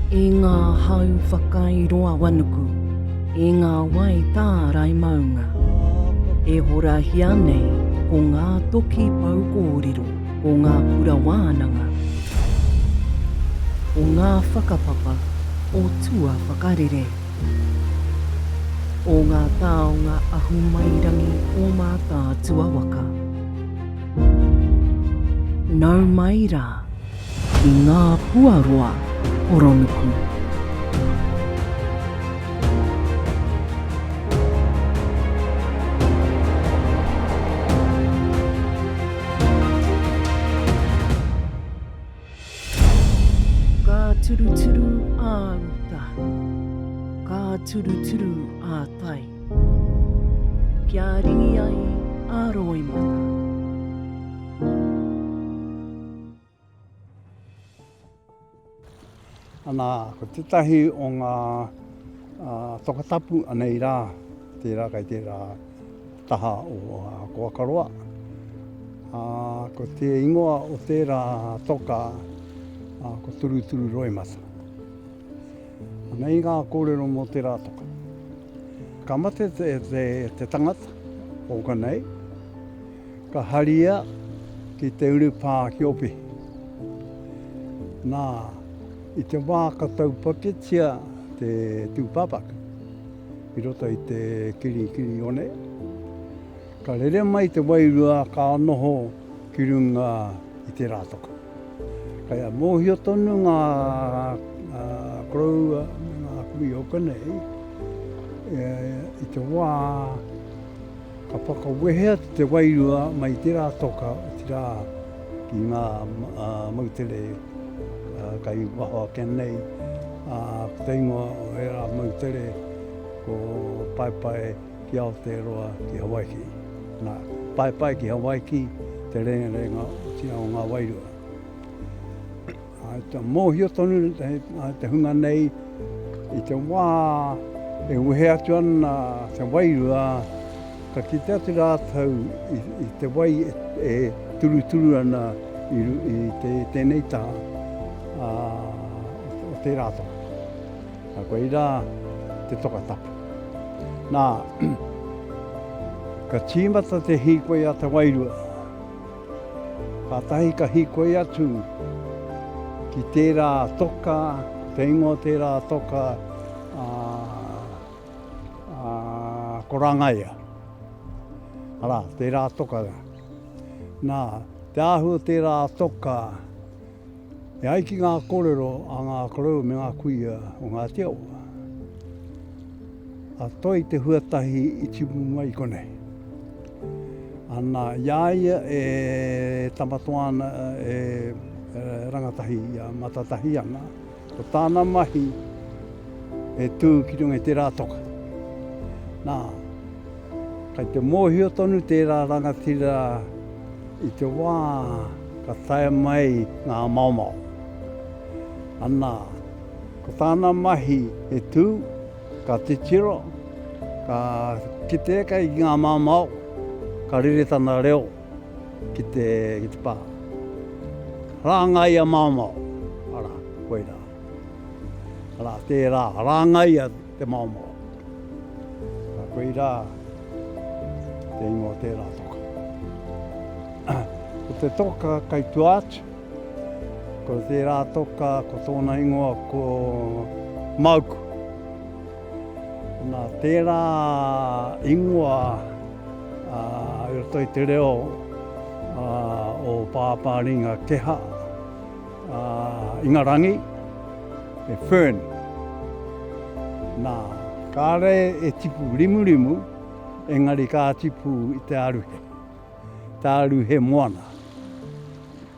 E ngā hau whakairoawanuku, e ngā wai tārai maunga, e horahia nei ko ngā toki pou kōrero, ko ngā kura wānanga, ko ngā whakapapa o tuawhakarere. O ngā taonga ahumairangi o Mātaatua waka. Nau mai rā ki ngā puaroa horonuku. Ka turuturu ā uta, ka turuturu ā tai, kia ringi ai a roimata. Anā, ko tētahi o ngā tokatapu anei rā, tērā kei tērā taha o Koakaroa. Ko te ingoa o tērā toka, ko Turuturu Roimata. Anei ngā kōrero mō tērā toka. Ka mate te tangata, ōka nei, ka haria ki te urupā ki Opihi. Nā, i te wā ka taupaketia te tūpāpaku i roto i te kiri Kirione, ka rere mai te wairua ka noho ki runga i te rātoko. Kei a mōhio tonu ngā koroua me ngā kui oka nei i te wā Ka whakawehea te wairua mai tērā toka, otirā ki ngā moutere kai waho ake nei, ā, ko te ingoa o ērā moutere ko Paepae ki Aotearoa, ki Hawaiki. Nā, Paepae ki Hawaiki, te rerenga, otirā, o ngā wairua. Mōhio tonu te hunga nei i te wā e wehe atu ana te wairua, ka kite atu rātou i te wai e turuturu ana i tēnei taha o tērā toka. Koirā te toka tapu. Nā, ka tīmata te hīkoi a te wairua. Kātahi ka hīkoi atu ki tērā toka, te ingoa o tērā toka, ā, ko Rangaia. Arā, tērā toka. Nā, te āhua o tērā toka, E ai ki ngā kōrero a ngā korou me ngā kuia o Ngāti Awa, a Toi te huatahi i tipu mai i konei. Ana, i a ia e tamatoa ana e rangatahi i a Matatahi ana, ko tāna mahi e tū ki runga i tērā toka. Nā. Kei te mōhio tonu tērā rangatira i te wā ka tae mai ngā maomao. Anā, ko tāna mahi he tū, ka titiro, ka kite eke ki ngā maomao, ka rere tana reo ki te pā. Rāngaia maomao, arā, koirā. Arā, tērā, rāngaia. Te Maomaoa. Nā, koe irā te ingoa o tērā toka. Ko te toka kai tua atu, ko tērā toka ko tōna ingoa ko Mauku. Nā, tērā ingoa a, i roto i te reo a, o Pāpāringa Keha, A Ingarangi, e Fern. Na, kare e tipu rimurimu, engari ka tipu i te aruhe. Te aruhe moana.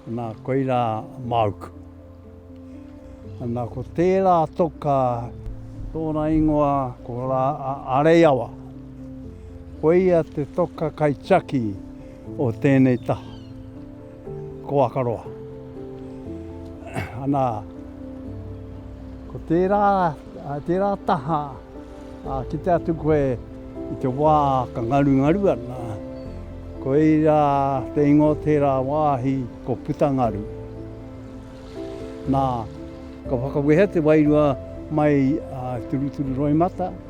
Na, koira mauku. Na, ko tera toka tona ingoa ko ra a Areiawa. Koia te toka kaitiaki o tenei taha. Ko Akaroa. Ana, ko tērā, tērā taha a kite atu koe i te wā ka ngarungaru ana, koira te ingoa o tērā wāhi ko Putangaru. Nā, ka whakawehea te wairua mai a Turuturu Roimata,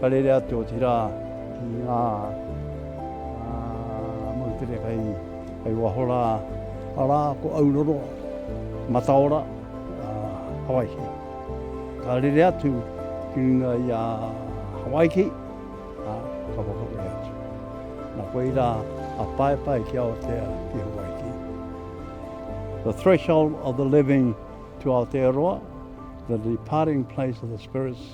Ka rere atu, otirā, ki ngā moutere kei waho rā, arā, ko Auroro, Mataora, Hawaiki. Ka rere atu ki runga i a Hawaiki, ā, ka whakawe atu. Nā koirā a Paepae ki Aotea, ki Hawaiki. The threshold of the living to Aotearoa, the departing place of the spirits